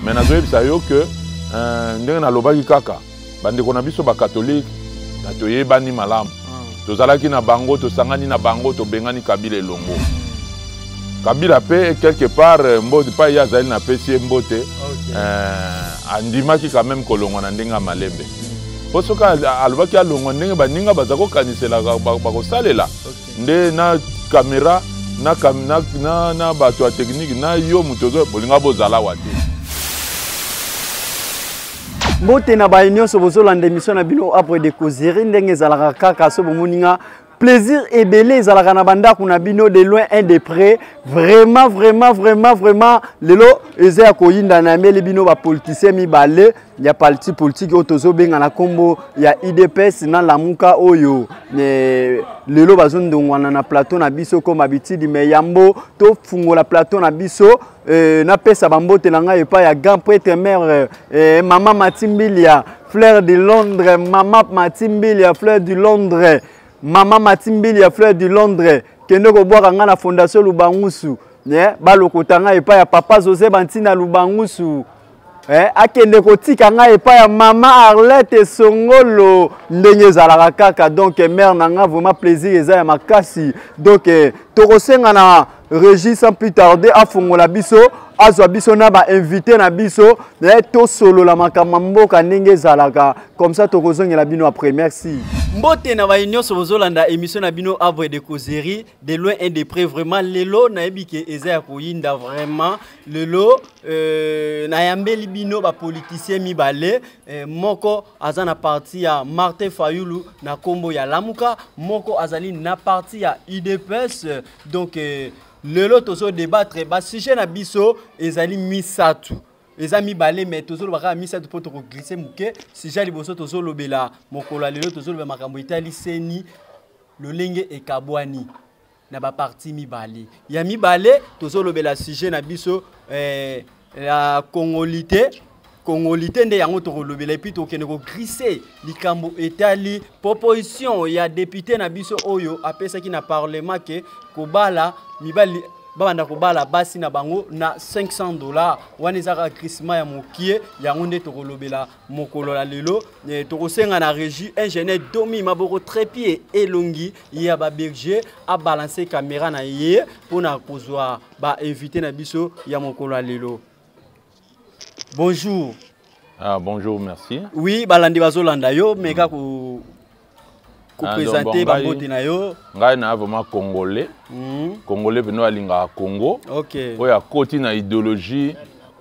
mais nazoyebisa yo ke euh, ndenge nalobaki kaka bandeko na biso bakatolike na toyebani malamu ah. tozalaki na bango tosangani na bango tobengani kabila elongo kabila mpe quelque part euh, mbote mpai ye azali napesi ye mbote okay. euh, andimaki quand même kolongwa na ndenge ya malembe mpo soki alobaki alongwa ndenge baninga baza kokaniselaka bakosalela okay. nde na kamera na, na, na, na bato ya tekiniki na yo moto ozo bolinga bozala wa te mbote na baye nyonso bozolanda emission na bino apres de causerie ndenge ezalaka kaka so bomoni nga plaisir ebele ezalaka na bandako na bino de loin un de près vraiment vraiment vraiment vraiment lelo eza ya koyinda na yambeli bino bapoliticien mibale ya parti politique oyo tozobenga na nkombo ya udps na lamuka oyo e, lelo bazondongwana na plateau na biso koma bitidi me yambo tofungola plateau na biso e, napesa bambote na ngai epai ya grand prêtre mare e, mama matimbilia fleur de londres mama matimbilia fleur du londres mama matimbilia fleur du londres kende kobwaka ngai na fondation lubangusu yeah, balokota ngai epai ya papa josé bantina lubangusu eh, akende kotika ngai epai ya mama arlette esongolo ndenge ezalaka kaka donc eh, mare na ngai vraiment plaisir eza ya makasi donc eh, tokosenga na régis sans plus tarde afongola biso azwa biso na bainvité na biso eh, tosolola makambo ya mboka ndenge ezalaka comme ça tokozongela bino après merci mbote na baye nyonso bozolanda émission na bino avre de causerie de loin et de près vraiment lelo nayebi ke eza ya koyinda vraiment lelo euh, nayambeli bino bapoliticien mibale euh, moko aza na parti ya martin fayulu na nkombo ya lamuka moko azali na parti ya udps euh, donc euh, lelo tozo débattre basujet na biso ezali misato eza mibale me tozoloba kaka misato mpo tokoglise moke sujet ya liboso tozolobela mokolo ya lelo tozolobela makambo etali seni lolenge ekabwani na baparti mibale ya mibale tozolobela sujet na biso eh, ya congolite congolite nde yango tokolobela epuis tokende kogrise likambo etali proposition ya depute na biso oyo apesaki na parlement ke kobala mibali babanda kobala basi na bango na 500 dollars wana ezaka grisement ya mokie yango nde tokolobela mokolo ya lelo eh, tokosenga na régie ingénieur domi maboko trepie elongi ya baberger abalanse kamera na ye mpo na kozwa bainvité na biso ya mokolo ya lelo bonjour ah, bonjour merci oui balandi bazolanda yo meka mm. kopresente bambote na yo ngai na vraiment congolais mm. congolais mpenza alingaka congo okay. oyo akoti na idéologie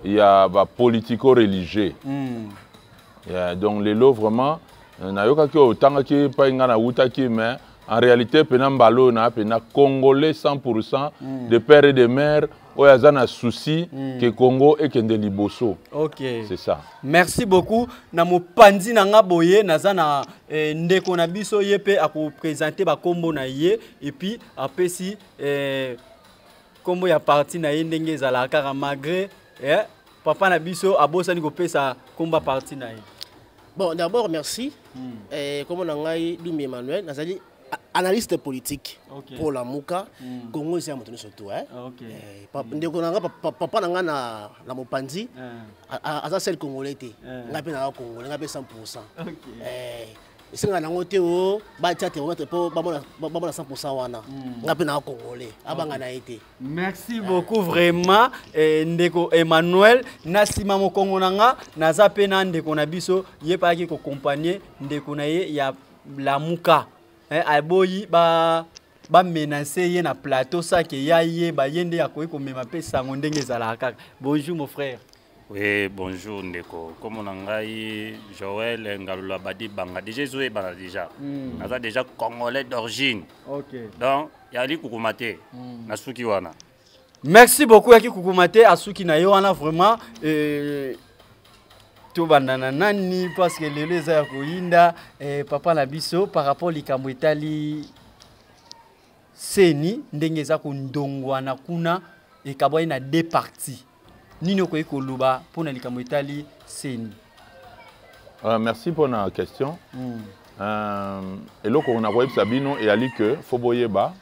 ya bapolitico religieux mm. yeah, donc lelo vraiment euh, nayokaki oyo otangaki epai ngai nawutaki mais en réalité mpena mbala oyo naa mpena congolais 100 mm. de père et de mère oyo aza na souci mm. ke congo ekende liboso okay. c'est ça merci beaucoup na mopanzi na nga boye naza na eh, ndeko na biso ye mpe akopresente bakombo na ye epuis apesi eh, kombo ya parti na ye ndenge ezalaka kaka malgré eh, papa na biso abosani kopesa komba parti na ye bon d'abord merci mm. eh, kombo na ngai dumbi emmanuel nazali analyste politique okay. pour lamuka mm. congo eza ya moto nyonso tu eh? okay. eh, pa, mm. ndeko na nga papa, papa na nga na, na mopanzi eh. aza sel congolais te eh. nga mpe naza congolais nga mpe 100 pourcent okay. eh, esenga nango te o batya theromètre mpo bamona 100 wana hmm. nga mpe naa congolais abanga na ye te merci beaucoup vraiment eh, ndeko emmanuel na nsima mokongo na nga naza mpe na ndeko na biso ye mpe ayaki kokompagne ndeko na ye ya lamuka eh, aboyi ba bamenase ye na plateau sake ya ye baye nde akoki komema mpe sango ndenge ezalaka kaka bonjour mon frère oui bonjour ndeko nkombo na ngai joel ngalula badi banga deja ezoyebana deja mm. naza deja congolais d'origine okay. donc yali kukuma te mm. nasuki wana merci beaucoup yaki kukuma te asuki na ye wana vraiment euh, tobanda na nani parce que lelo eza ya koyinda eh, papa na biso par rapport likambo etali seni ndenge eza kondongwana kuna ekabwani na deux parties nini okoki koloba mpo na likambo etali seni uh, merci mpo na question mm. uh, eloko nakoyebisa bino eyali ke fo boyeba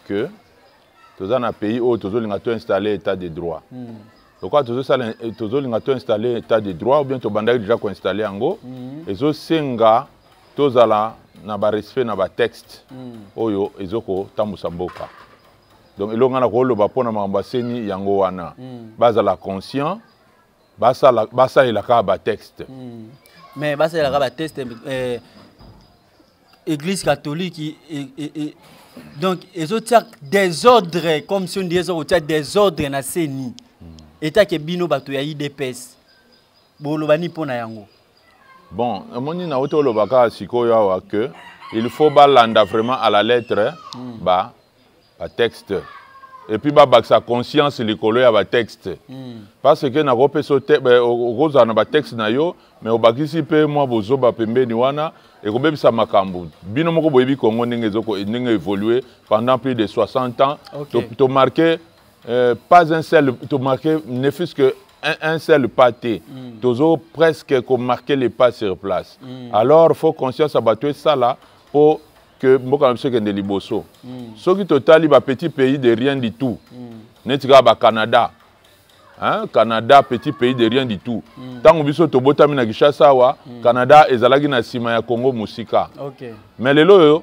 ke toza na pays oyo tozolinga to installer état de droit mm. lokola tozosala eh, tozolinga to installer état de droit ou bien tobandaki déjà koinstaller yango mm. ezosenga tozala na barespect na batexte mm. oyo ezokotambusa mboka donc elonga na koloba mpo na makambo aseni yango wana mm. bazala conscient basala basalela kaka ba texte mm. mais basalela kaka ba texte eh, église catholique et, et, et, donc ezotia désordre comme si ondie eza kotia désordre na seni mm. etake bino bato ya idps boloba ni mpo na yango bon omoni na uti oloba kaka sikoyo awa que il faut balanda vraiment à la lettre mm. ba batexte epuis babakisa conscience likolo ya batexte mm. parce que nakopesa okozala na batexte na yo me obakisi mpe mwa bozoba pembeni wana ekobebisa makambo bino moko boyebi kongo ndenge ndenge évolue pendant plus de 60 ans okay. tomarke to euh, pas un seul tomarke ne fût-ce que un, un seul pas te mm. tozo presque komarke le pas sur place mm. alors faut conscience ya bato esala mpo que mboka na biso ekende liboso mm. soki totali ba petit pays de rien du tout mm. neti kaka ba canada hein? canada petit pays de rien du tout ntango mm. biso tobotami na kinshasa awa mm. canada ezalaki na nsima ya congo mosika okay. mais lelo oyo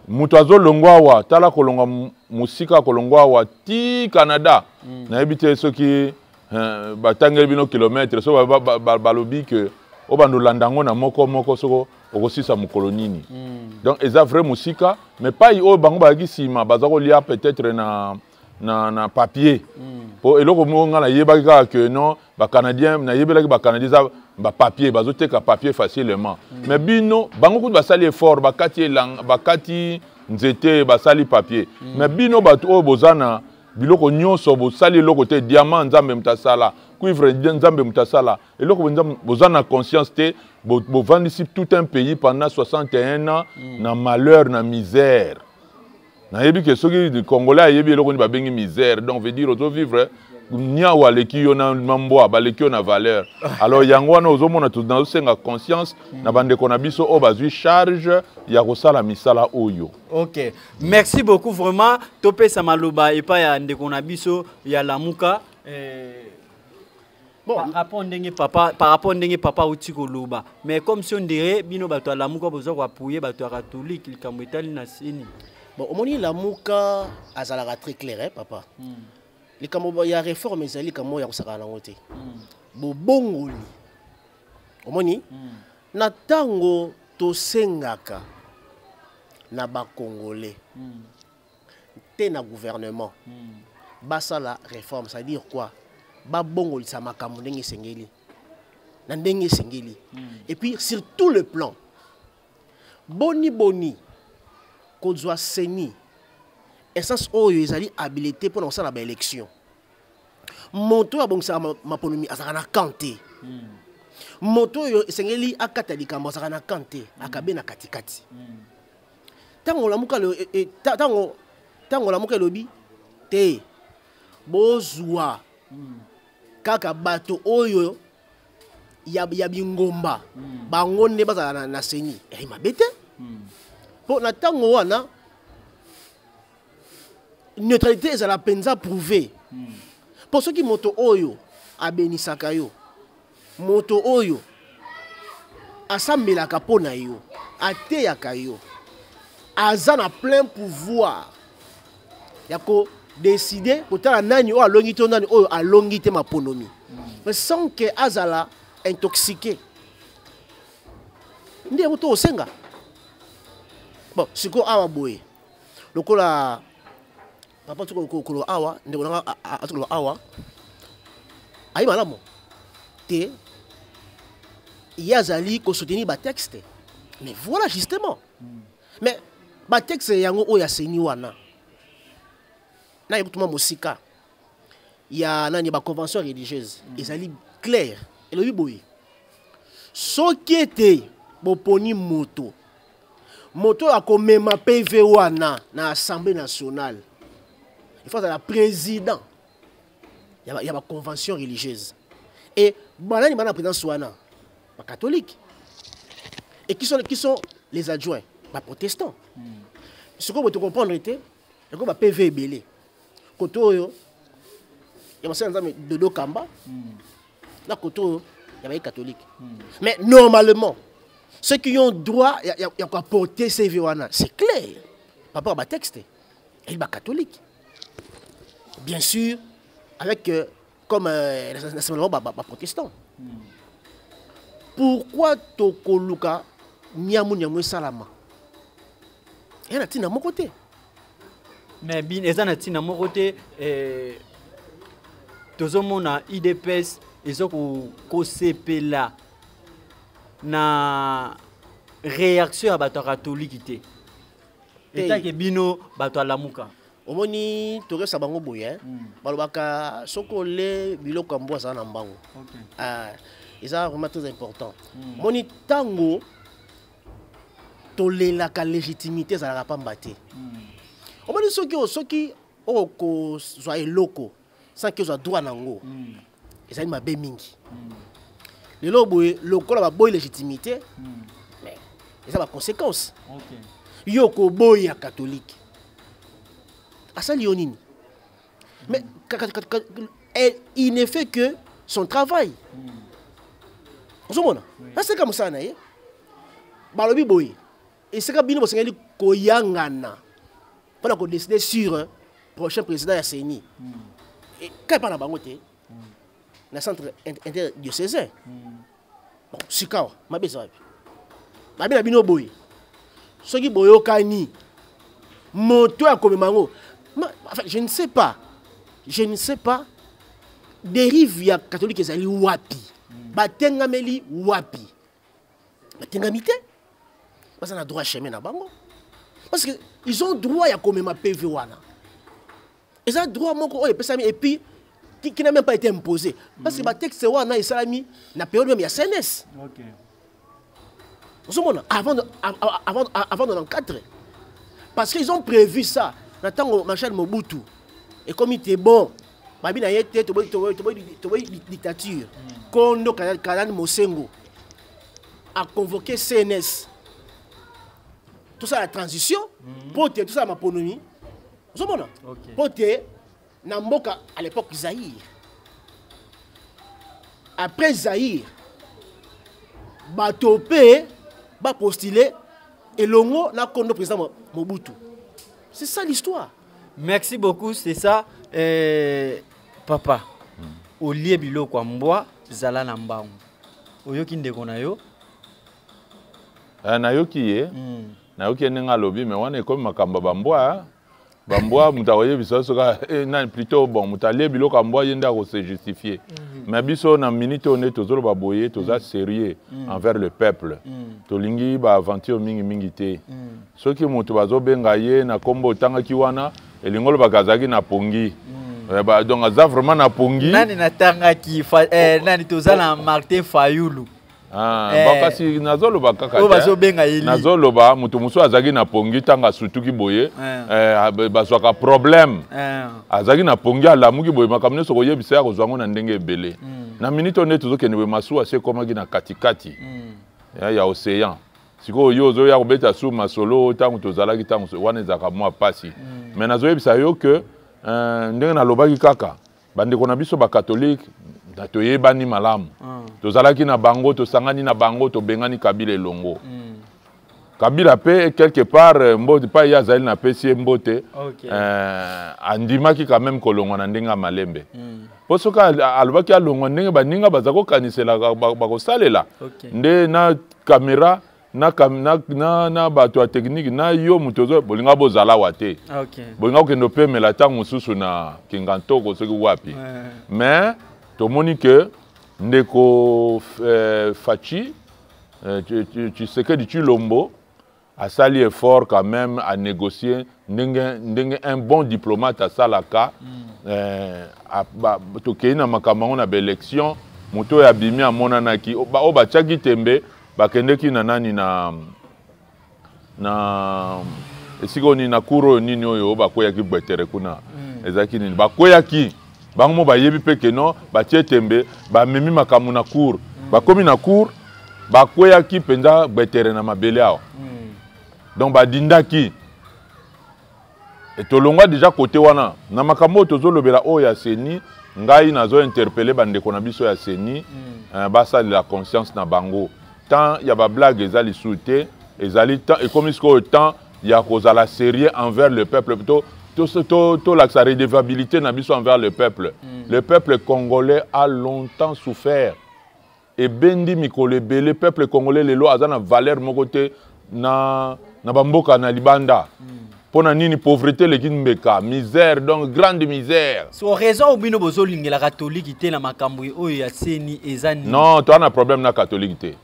moto azolongwa awa tala kolongwa mosika kolongwa awa ti canada mm. nayebi te soki eh, batangeli bino kilometre so balobi ba, ba, ba, ke obanda olanda yango na moko moko soko okosisa mokolo nini mm. donc eza vrai mosika mais pai oyo bango bazalaki nsima baza kolia peut-être na, na, na papier mpo mm. eloko moko ngai nayebaki kaka que non bacanadien nayebelaki bacanadien eza bapapier bazoteka papier facilement mm. mais bino bango kutu basali effort bakati, elang, bakati nzete basali papier mm. mais bino bato oyo boza na biloko nyonso bosali eloko te diamant nzambe moto asala cuivre nzambe moto asala eloko benza boza na conscience te bovandisi bo tout un pays pendant 61 ans mm. na malheur na misère nayebi ke soki congolais ayebi eloko nini babengi misère donc veut dire ozo vivre niawu aleki yo na mbwa baleki yo na valeur alors yango wana ozomona nazosenga conscience mm. na bandeko na biso oyo bazwi charge ya kosala misala oyo ok merci beaucoup vraiment topesa maloba epai ya ndeko na biso ya lamuka eh... Bon. Par rapport ndenge papa, par rapport ndenge papa uti koloba. Mais comme si on dirait bino bato ya lamuka bozo ko appuyer bato ya catholique likambo etali na sini. Bon, omoni lamuka azalaka très clair hein, papa. Mm. Likambo ya réforme ezali likambo ya kosakana nango te. Mm. Bobongoli. Omoni? Mm. Na tango tosengaka na ba congolais. Mm. te na gouvernement hmm. basala réforme ça dire quoi babongolisa makambo ndenge esengeli na ndenge esengeli hmm. et puis sur tout le plan boni boni kozwa seni essence oyo ezali habilité mpo na kosala baélection moto oyo abongisaka maponomi azalaka na camp te hmm. moto oyo esengeli akata likambo azalaka na camp te akabe na katikati mm. ntango olamuka e, e, ntango ntango olamuka elobi te bozwa hmm. kaka bato oyo ya, ya bingomba hmm. bango nde bazala na, na seni ei eh, mabe te hmm. mpo na ntango wana neutralité ezala mpenza prouve mpo soki moto oyo abenisaka yo moto oyo asambelaka mpo na yo ateyaka yo aza na plein pouvoir ya kodeside kotala nani oyo alongi to nani oyo alongi te maponomi mais sans ke azala intoxique nde yango to osenga bon sikoyo awa boye lokola papa tuko koloba awa ndeko nanga atoloba awa ayi malamu te ye azali kosoutenir batexte mais voilà justement hmm. mais batexte yango oyo ya seni wana naye kotuma mosika ya nani baconvention religieuse hmm. ezali claire elobi boye soki ete boponi moto moto oyo akomema pv wana na assemblée nationale il faut azala président ya baconvention religieuse e banani bana présidence wana bacatholique et qui sont, qui sont les adjoints baprotestants hmm. sikoyo boto comprendre te yango bapv ebele kote oyo ya basali nzambe dodo kamba hmm. na kote oyo ya baye catholique hmm. mais normalement ceux qui ont droit ya koaporte cv wana c'est clair par rapport ya batexte eyi bacatholique bien sûr avec euh, comme euh, nasemblamo baprotestant hmm. pourquoi tokoluka niamu niamu esalama eya na ntina moko te mais bin eza na ntina moko te eh, tozomona idps eza kosepela na réaction ya bato ya katoliki te etake bino bato alamuka omoni tokesa bango boye eh? mm. balobaka soki ole biloko ya mbwa azala na mbango okay. ah, eza vraiment très important mm. moni ntango tolelaka légitimité ezalaka pamba te hmm. omoni soki soki okozwa eloko sanki ozwa droit na yango hmm. ezali mabe mingi hmm. lelo boye lokola baboyi légitimité eza baconséquence yo okoboya katolike asali yo nini Mais elle, il ne fait que son travail. ozomona aseka mosala na ye balobi boye esika bino bosengeli koyangana mpo na kodeside sur euh, prochain président ya ceni hmm. kai epai na bango te hmm. na centre interdiocésain hmm. bon sikawa mabe eza wapi mabe na bino boye soki boyokani moto ya komema yango enfin, je ne sais pas je ne sais pas dérive ya catholique ezali wapi batengameli wapi batengami te baza na droit chemin na bango parce que ils ont droit ya komema pv wana eza droit moko oyo epesami epuis qui n'a même pas été imposé parce que mhm. batexte wana esalami na période meme ya cns ozomona avant avant avant 94 parce qu'ils ont prévu ça na ntango marshal mobutu ekomi te bon babi na ye te toboyi dictature mhm. kondo kalani mosengo a convoqué cns tout ça la transition mhm. mpo te tout ça maponomi ozomona okay. mpo te na mboka à l'époque zaïre après zaïre bato mpe bapostule elongo na kondo président mobutu c'est ça l'histoire merci beaucoup c'est ça eh, papa mm. olie biloko ya mbwa zala na mbangu oyoki ndeko na yo uh, nayoki ye mm. nayoki ye ndenge alobi me wana ekomi makambo ya bambwa bambwa moto akoyebisa yo soki eh, nani plutôt bon moto alie biloko ya mbwa ye nde akose justifie mhm. mais biso na minute oyo nde tozoloba boye toza mhm. sérieux mhm. envers le peuple tolingi baaventure mingimingi te soki moto bazobenga ye na nkombo otangaki wana elingi olobaka azalaki na pongi Eh, ba, donc aza vraiment na pongi nani natangaki eh, nani toza na martin fayulu Ah, eh. kasi nazoloba kaka nazoloba moto mosusu azalaki na pongi ntango asutuki boye eh. Eh, ah, bazwaka problème azalaki na pongi alamuki boye makambo nyonso koyebisa ya kozwa yango na ndenge ebele hmm. na miniti oyo nde tozokende boye masuwa se ekomaki na katikati hmm. ya océan sikoyo yo ozoya kobeta su masolo ntango tozalaki ntango wana ezalaka mwa mpasi hmm. mais nazoyebisa yo ke ndenge nalobaki kaka bandeko na biso bakatolike toyebani malamu ah. tozalaki na bango tosangani na bango tobengani kabila elongo hmm. kabila mpe quelque part euh, mbote mpa ye azali na pesi ye mbote okay. euh, andimaki quand même kolongwa na ndenge ya malembe mm. mpo soki alobaki alongwa ndenge baninga baza kokaniselaka bakosalela okay. nde na kamera na, na, na, na bato ya tekniki na yo moto ozo bolinga bozala wa te ah, okay. bolinga kokende opemela ntango mosusu na kingantoko soki wapi ouais. mais tomoni ke ndeko eh, faci eh, tshisekedi tshilombo asali effort quand même à négocier ndenge ndenge un bon diplomate asalaka mm. eh, tokei na makambo yango na baélection moto oyo abimi amonanaki oyo batyaki tembe bakendeki na nani na na esika oyo nini na cour oyo nini oyo bakweyaki gbetere kuna mm. ezalaki nini bakweyaki bango mo bayebi mpe keno batie tembe bamemi makambo na cour mm. bakomi na cour bakweyaki mpenza gbetere na mabele awa mm. donc badindaki Et tolongwa déjà côté wana na makambo oyo tozolobela oyo ya seni ngai nazo interpelle bandeko na biso ya seni mm. eh, basalela conscience na bango temps ya bablague eza lisusu te ezali temps ekomi sikoyo temps ya kozala sérieux envers le peuple to tolakisa to, to, to redevabilité na biso envers le peuple mm. le peuple congolais a longtemps souffert ebendi mikolo ebele peuple congolais lelo aza na valeur moko te na, na bamboka na libanda mm. mpo na nini pauvreté eleki mbeka misère donc grande misère so raison oyo bino bozolingela katolike te na makambo oyo ya seni eza nini non toa na problème na katolike te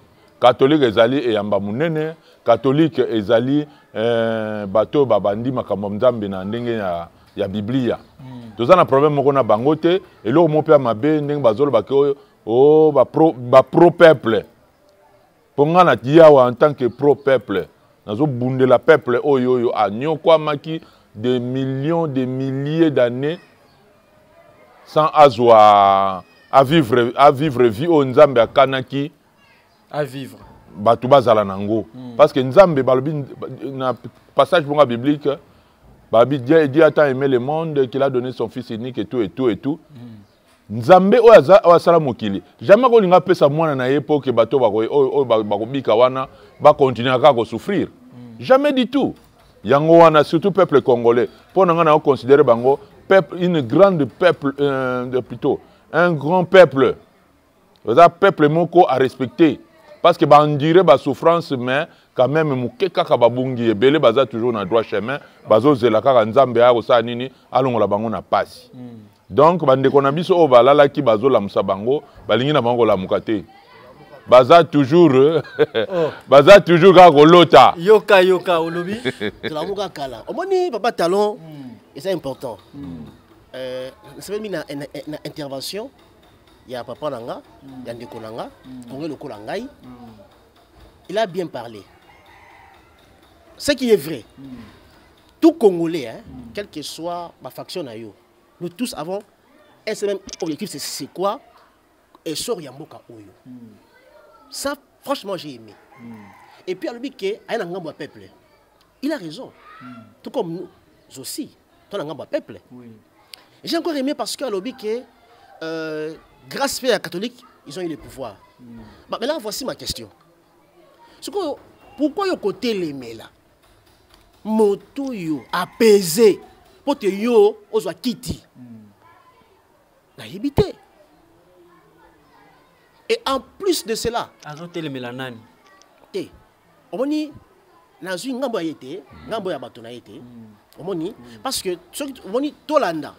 katolike ezali eyamba monene katolike ezali eh, bato oyo babandi makambo ya nzambe na ndenge ya, ya biblia mm. toza na problème moko na bango te eloko moko mpe ya mabe ndenge bazolobaki oyo oh ba pro ba pro peuple mpo ngai na yawa en tant que pro peuple nazobundela peuple oyo oyo anyokwamaki des millions des milliers d'années sans azwa à vivre à vivre vie oyo nzambe akanaki à vivre bato bazala na yango mm. parce que nzambe balobi na passage bonga biblique balobi dieu a tant aimé le monde qu'il a donné son fils unique et tout et tout et tout mm. nzambe oyo aza oyo asala mokili jamais akolinga apesa mwana na ye mpo ke bato oyo bakobika wana bakontinue kaka kosouffrir mm. jamais du tout yango wana surtout peuple congolais mpo na ngai na oconsidere bango peuple une grande peuple euh, plutôt un grand peuple oza peuple moko a respecter parce que baendure basouffrance mais quand même moke kaka babungi ebele baza toujours na droit chemin bazozela kaka nzambe aya kosala nini alongola bango na pasi hmm. donc bandeko na biso oyo balalaki bazolamusa bango balingi na bango kolamuka te baza toujours oh. baza toujours kaka kolota yoka yoka olobi tolamuka kala omoni papa talon hmm. eza important hmm. euh, nasepeli na intervention mm. ya papa na nga ya ndeko na nga konge lokola ngai il a bien parlé ce qui est vrai tout congolais hein, quel que soit ma faction na yo nous tous avons un seul même objectif c'est c'est quoi essor ya mboka oyo ça franchement j'ai aimé et puis alobi ke aye na ngambo ya peuple il a raison mm. tout comme nous aussi to na ngambo ya peuple oui. j'ai encore aimé parce que alobi que euh, grâce mpe ya catholique ils ont eu le pouvoir mm. bah, maintenant voici ma question sikoyo pourquoi yo kotelemela moto oyo apese mpo te yo ozwa kiti mm. nayebi te et en plus de cela azotelemela nani te omoni nazwi ngambo ya ye te ngambo ya bato na ye te omoni parce que soki omoni tolanda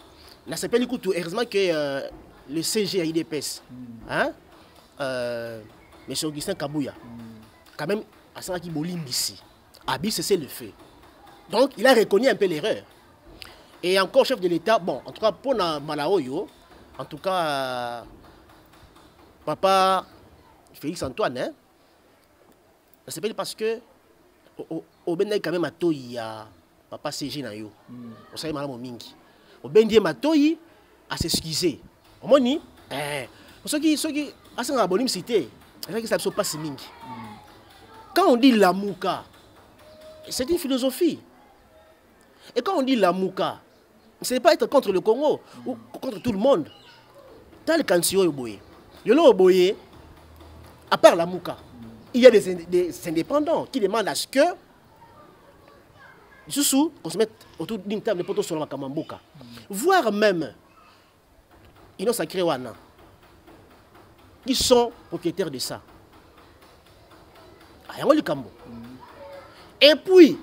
nasepeli kutu heureusement que euh, le cg ya idps hein, euh, monsieur augustin kabuya quand même asalaki bolimbisi abi cessez le feu donc il a reconnu un peu l'erreur et encore chef de l'état bon en tout cas mpo na mbala oyo en tout cas euh, papa félix antoine hein, nasepeli parce que obendaki quand même matoyi ya papa cg na yo hmm. osali malamu mingi obendi ye matoyi asexcuse omoni eh, soki soki asengaka bolimisi te ezalakisa biso mpasi mingi hmm. quand on dit lamuka c'est une philosophie et quand on dit lamuka c'est pas être contre le congo ou contre tout le monde tala likanisi oyo boye lelo boye à part la mouka il y a des, des indépendants qui demandent à ce que lisusu qu'on se mette autour d'une table mpo tosolola makambo ya mboka voire même Ino sacré wana. Qui sont propriétaires de ça? Ayango ah, likambo. Et puis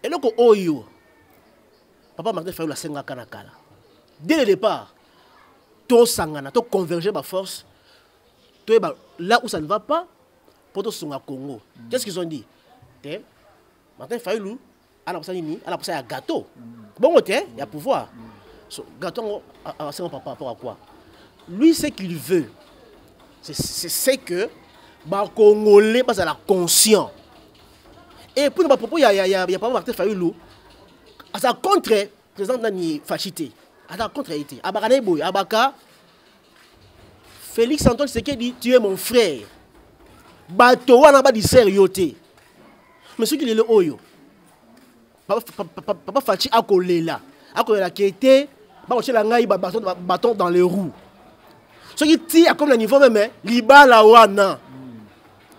eloko oyo papa Martin Fayulu asengaka na kala. Dès le départ, to sangana, to converger ba force, to là où ça ne va pas, pour to songa Congo. Qu'est-ce qu'ils ont dit? Martin Fayulu Ana posa nini? Ana posa ya gâteau. Bongo te ya pouvoir. So, gâteau ngo asenga par rapport à quoi? Lui ce qu'il veut c'est c'est que ba congolais bazala conscient. Et puis ba propos ya ya ya, ya papa Martin Fayulu aza contre président nani fachité. Aza contre été. Abaka na boye, abaka Félix Antoine Tshisekedi, tu es mon frère. Bato wana ba diser yo te. Mais soki lelo oyo papa, papa, papa, papa Fatshi akolela, akolela kete, bakotyela ngai ba bâton, ba bâton dans les roues. Soki ti akomi na niveau meme libala wana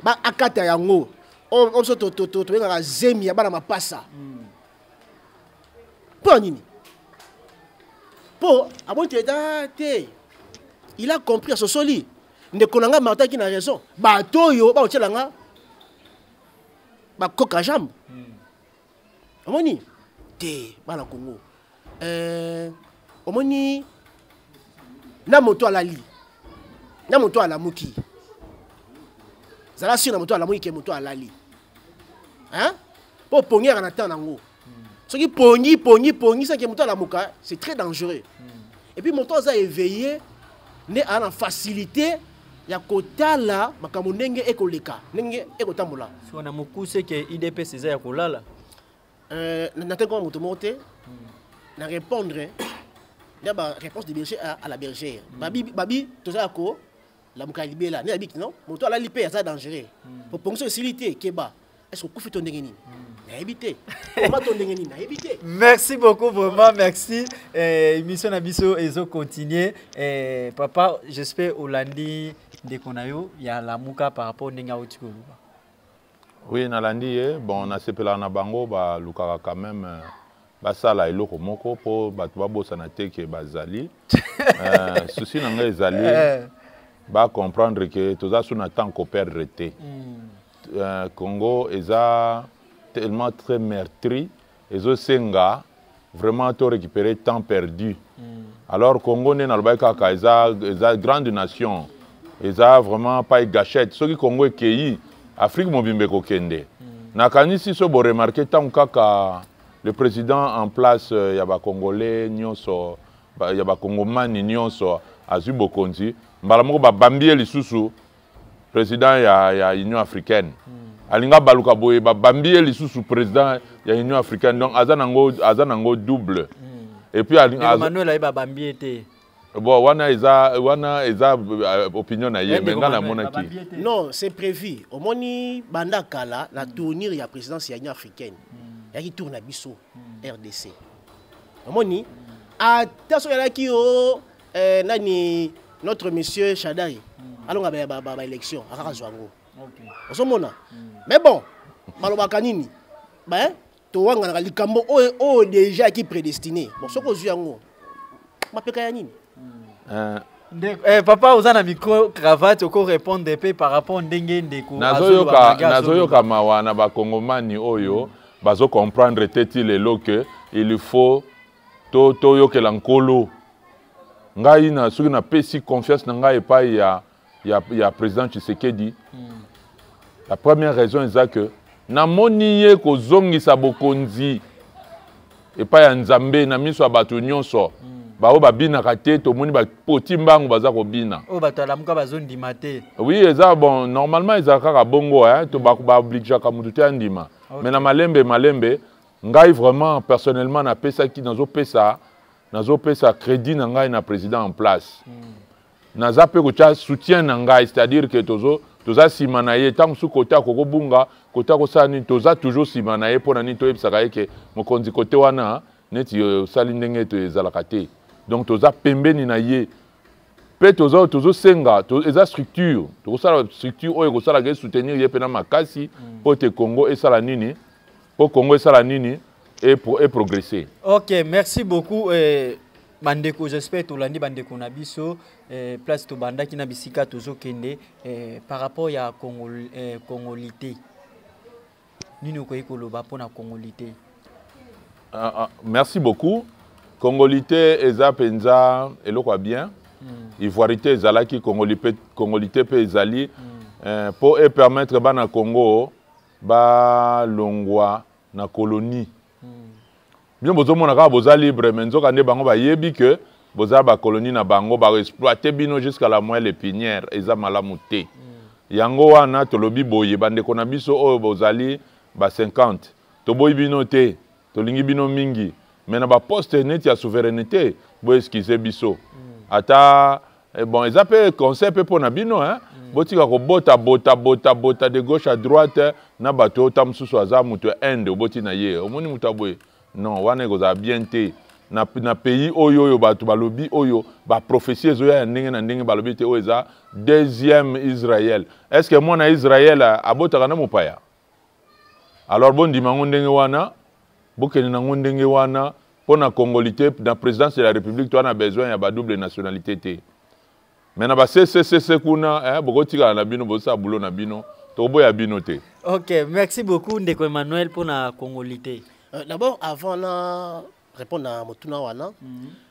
ba akata yango. Oyo oh, oh, to to to to bengaka zemi ya bana mapasa. Mm. mpo na nini mpo amoni te da te il a compris asosoli ndeko na ngai martin aki na raison bato oyo bakotyela nga bakoka jambe hmm. omoni te bana kongo eh, omoni na moto alali na moto alamuki zala sur na moto alamuki ke moto alali hein po pongera na temps nango soki pongi pongi pongi saki moto alamuka c'est très dangereux hmm. et puis moto aza éveillé nde aa na facilité ya kotala makambo ndenge ekoleka ndenge ekotambola na mokuse ke idps eza ya kolala Euh, Nathan comme moto moko te na répondre na ba réponse de berger à, à la bergère mm. babi babi toza ko la muka libela ne abiki non moto ala lipe aza dangereux mm. pour ponction esili te keba est-ce que kufi to ndenge nini mm. nayebi te koma to ndenge nini nayebi te merci beaucoup vraiment merci eh, émission na biso ezo continuer eh, papa j'espère olandi ndeko na yo ya lamuka par rapport ndenge auti koloba Oui, nalandi ye. Bon, nasepelaka na bango balukaka quand même euh, basala eloko moko mpo bato babosana te ke bazali. euh, souci na ngai ezali eh. bacomprendre ke toza su na temps koperdre te. Mm. Euh, Congo eza tellement très meurtri. ezo senga vraiment to récupérer temps perdu mm. alors congo nde nalobaki kaka eza, eza grande nation eza vraiment pai gachette soki congo ekei afrique mobimba ekokende mm. nakanisi so boremarke ntango kaka le président en place euh, ya bacongolais nyonso ya bakongomani nyonso azwi bokonzi mbala moko babambi ye lisusu president ya, ya union africaine hmm. alinga baluka boye babambi ye lisusu president ya union africaine donc aza nango aza nango double hmm. et puis manuel ayeba bambi ye te bon wana eza wana eza euh, opinion na ye me ngai namonaki non c'est prévu omoni banda kala na tournir ya présidence ya union africaine hmm. yaki tour na biso rdc omoni ata soki alaki o oh, eh, nani notre monsieur Shadai mm. alonga ba ba, ba, ba élection akaka zwa ngo okay. ozomona mm. mais bon balobaka nini ba hein? towanganaka likambo oyo oyo déjà ki prédestiné bon soki ozwi yango mapeka ya nini mm. uh. ndeko eh, papa oza na micro cravate oko répondre mpe par rapport ndenge ndeko nazoyoka nazoyoka mawa na bakongomani oyo mm. bazo comprendre te ti lelo que il faut to toyokela nkolo ngai na soki napesi confiance na ngai epai ya, ya, ya président tshisekedi mm. la première raison eza que namoni ye kozongisa bokonzi epai ya nzambe na miso ya bato nyonso mm. baoyo babinaka te tomoni bapoti mbangu baza kobina oyo bato alamuka bazondima te oui eza bon normalement ezala kaka bongo eh? to baobligeaka motu te andima okay. me na malembe malembe ngai vraiment personnellement napesaki nazopesa nazopesa crédit na ngai na président en place mm. naza mpe kotya soutien na ngai c'est-à-dire que tozo toza nsima na ye ntango mosusu kote akoki kobunga kote akosala nini toza toujours nsima na ye mpo na nini toyebisaka ye ke mokonzi kote wana neti euh, osali ndenge ete ezalaka te donc toza pembeni na ye mpe tozosenga to eza structure tokosala structure oyo ekosalaka esoutenir ye mpe na makasi mpo mm. ete congo esala nini po congo esala nini e, pro, e progresser ok merci beaucoup eh, bandeko j'espère tolandi bandeko na biso eh, place tobandaki na bisika tozokende eh, par rapport ya congo, eh, congolité nini okoki koloba mpo na congolité ah, ah, merci beaucoup congolité eza mpenza eloko ya bien mm. ivoirité ezalaki congolité mpe ezali mm. eh, mpo epermettre bana congo ba longwa na colonie hmm. bino bozomona kaka boza libre mais nzoka nde bango bayebi que boza ba colonie na bango ba exploiter bino jusqu'à la moelle épinière eza malamu te hmm. yango wana tolobi boye bandeko na biso oyo bozali ba 50 toboyi bino te Tolingi bino mingi mais na ba poste neti ya souverainete bo excuse biso. Ata eh, bon eza pe conseil pe pona bino hein. botika kobota bota bota bota de gauche à droite na bato oyo ta mosusu aza moto ya inde oboti na ye omoni moto ya boye non wana ekozala bien te na, na pays oyo oyo bato balobi oyo baprofesi ezoya ya ndenge na ndenge balobi ete oyo eza deuxième israel est ce que mwana israel abotaka na mopaya alors bondima yango ndenge wana bokende na yango ndenge wana mpo na congolité na présidence de la république toa na besoin ya badouble nationalité te me na baseseese kuna eh, bokotikala na bino bozosala bulo na bino tokoboya bino te ok merci beaucoup ndeko emmanuel mpo na congolité euh, d'abord avant na répondre na motuna wana mm -hmm.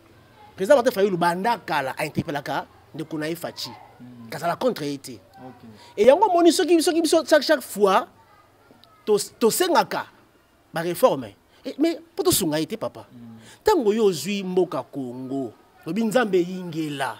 président martin fayulu banda kala ainterpelaka ndeko na ye faci hmm. kazala contre ye te e yango omoni soki soki biso chaque chaque fois tosengaka bareforme eh, mais mpo tosunga ye te papa hmm. ntango yo ozwi mboka congo lobi nzambe eyingela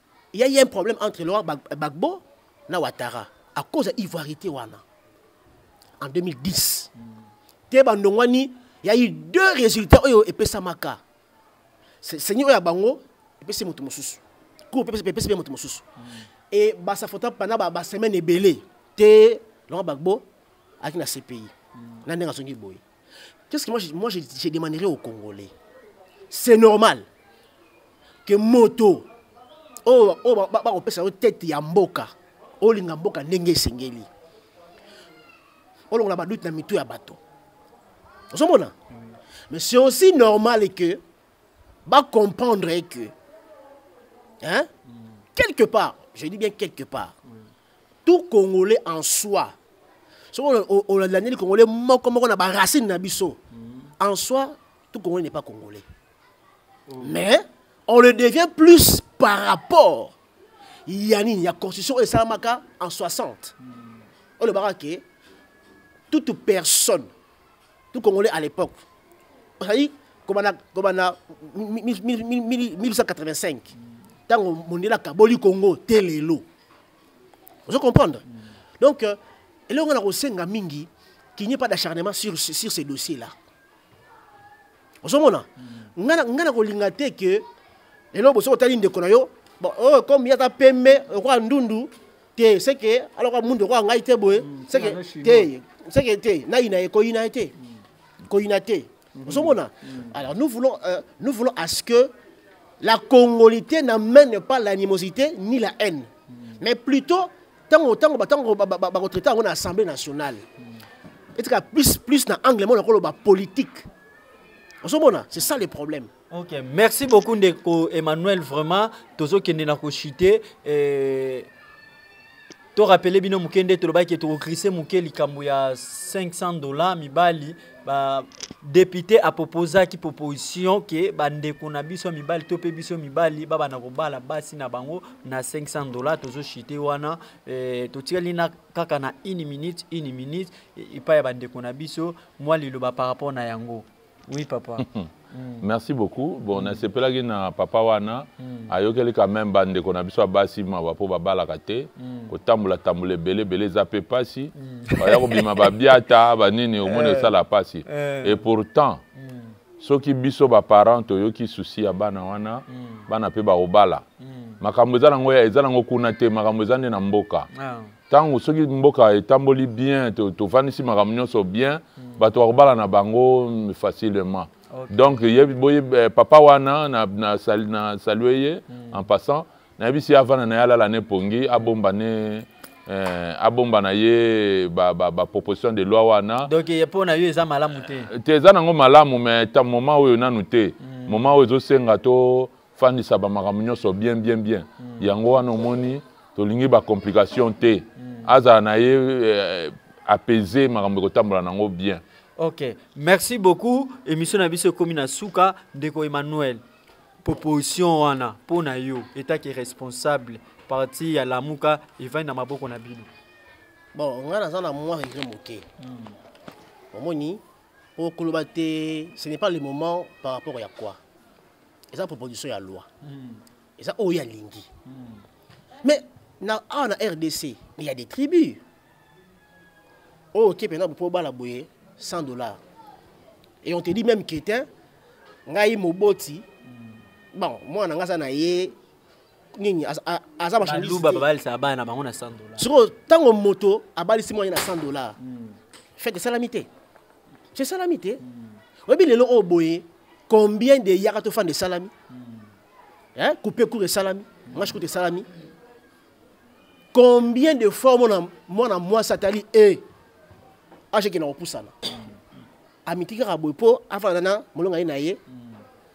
Il y a eu un problème entre Laurent Gbagbo et Ouattara à cause de l'ivoirité en 2010. Il y a eu deux résultats oyo epesamaka. Seigneur oyo bango epesi moto mosusu. Cour epesi pe moto mosusu. Et ba sa photo pendant ba, ba semaine ebele te Laurent Gbagbo aki na CPI. Na ndenge azongi boye. Qu'est-ce que moi, je, moi je, je demanderai aux Congolais C'est normal que moto oyo oh, oh, bakopesa yo tete ya mboka olinga mboka ndenge esengeli olongola badute na mitu ya bato ozomona mais c'est aussi normal que bacomprendre que hein? quelque part je dis bien quelque part tout congolais en soi soki olandeli congolais moko moko na baracine na biso mm. en soi tout congolais n'est pas congolais oh. mais on le devient plus par rapport ya nini ya constitution oyo esalamaka en 60 mm. olobaka ke toute personne tout congolais à l'époque ozali kobanda 1885 ntango mondele akaboli congo te lelo ozo comprendre donc euh, elongo na kosenga mingi qu'il n'y ait pas d'acharnement sur, sur ces dossiers là ozomona ngai na kolinga te ke lelo bosoki otali ndeko na yo bon, oh, comme ye aza pembe lokola ndundu te seke aloka mundu okoka ngai te boye mm, seke te seke te nayina ye koyina ye te mm. koyina te mm-hmm. ozomona mm. alors nous voulons euh, nous voulons à ce que la congolité n'amène pas l'animosité ni la haine mais plutôt ntango ntango ntango bakotraite yango na assemblée nationale etika plus plus na angle moko loba politique ozomona c'est ça le problème Ok, merci beaucoup ndeko Emmanuel vraiment tozokende na kochute eh, to rappeler bino moke nde tolobaki tokokrise moke likambo ya 500 dollars mibali ba député apropozaki proposition ke bandeko na biso ya mibali to mpe biso mibali babanda kobala basi na bango na 500 dollars tozochite wana eh, totikali na kaka na une minute une minute epai ya bandeko na biso mwa liloba par rapport na yango Oui papa. Mm. merci beaucoup bon mm. nasepelaki na papa wana mm. ayokeli quand même bandeko na biso ya basi mawa mpo babalaka te mm. kotambolatambola ebele ebele eza mpe mpasi mm. baya kobima babiata banini omoni eh. esala mpasi eh. et pourtant mm. soki biso baparent toyoki susi ya bana wana mm. bana mpe bakobala mm. makambo eza nango eza nango kuna te makambo eza nde na mboka ah. ntango soki mboka etamboli bien tofandisi makambo nyonso bien hmm. bato bakobala na bango facilement donc eh, papa wana na salue ye hmm. en passant nayebisi ye avanda na ye alala ne pongi abomba ne eh, abomba na ye baproposition de loi wana donc ye mpo na yo eza malamu te eh, te eza nango malamu mais ta moment oyo nanu te hmm. moment oyo ezosenga to fandisa ba makambo nyonso bien bien bien mm. yango wana omoni tolingi ba complication te mm. azala na ye eh, apaiser makambo ekotambola nango bien ok merci beaucoup émission na biso ekomi na suka ndeko emmanuel proposition wana mpo na yo etaki responsable parti ya lamuka evandi na maboko na bino bon ngai naza na mwa regret moke hmm. omoni Oh, koloba te ce n'est pas le moment par rapport ya quoi eza proposition ya loi hmm. eza oyo ya lingi hmm. mais na awa na rdc mais ya des tribus oyo oh, oke mpena mpo obala boye 100 dollars et on te dit même ketin ngai moboti hmm. bon mwana ngai aza na ye nini aza baluba babalisaka bana na bango na 100 dollars sikoyo ntango moto abalisi mwana na 100 dollars hmm. fete esalami te esalami te hmm. oyebi lelo oyo boye combien de yaka tofanda esalami hmm. coupe cour esalami mashi kutu esalami combien de fois omona mwana mwasi atali e ashekenda kopusana amitiki kaka boye mpo afanda na molonga ye na ye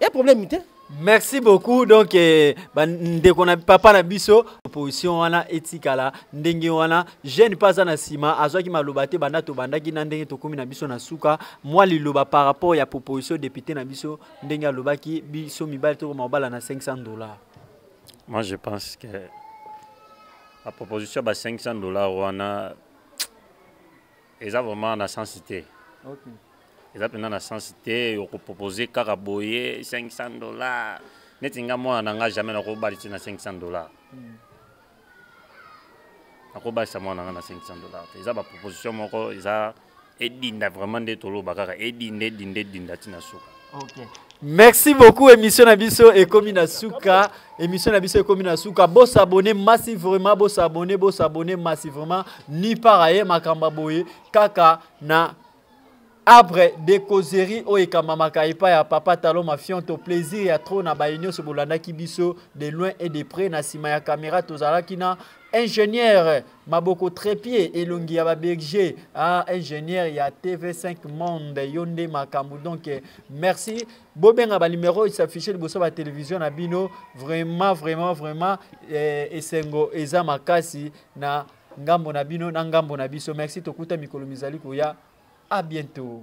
ya problème te merci beaucoup donc eh, bandeko na papa na biso opposition wana etikala ndenge wana jeune mpe aza na nsima azwaki maloba te banda tobandaki na ndenge tokómi na biso na suka mwa liloba par rapport ya proposition député na biso ndenge alobaki biso mibali tokoma kobala na 500 dollars moi je pense que la proposition ba 500 dollars wana eza vraiment na sens te okay. eza mpenza na sens te okopropose kaka boye 500 dollar neti nga mwana na nga jamais nakobalisi na 500 dollar hmm. nakobalisa mwana na nga na 500 dollar te eza baproposition moko eza edinda vraiment nde toloba kaka edinda edinda edinda ntina suka Okay. Merci beaucoup émission na biso ekomi na suka émission na biso ekomi na suka bo s'abonner massivement bo s'abonner bo s'abonner massivement ni par ailleurs makamba boye kaka na abre de causerie oyo ekambamaka epai ya papa talo mafionto plaisir ya trop na baye nyonso bolandaki biso de loin et de près na nsima ya kamera tozalaki na ingénieur maboko trepie elongi ya baberger ah, ingénieur ya tv5 monde yo nde makambo donc eh, merci bobenga banimero oyo s'affiche liboso batelevizio na bino vraiment vraiment vraiment eh, esengo eza makasi na ngambo na bino na ngambo na biso merci tokuta mikolo mizali koya a bientôt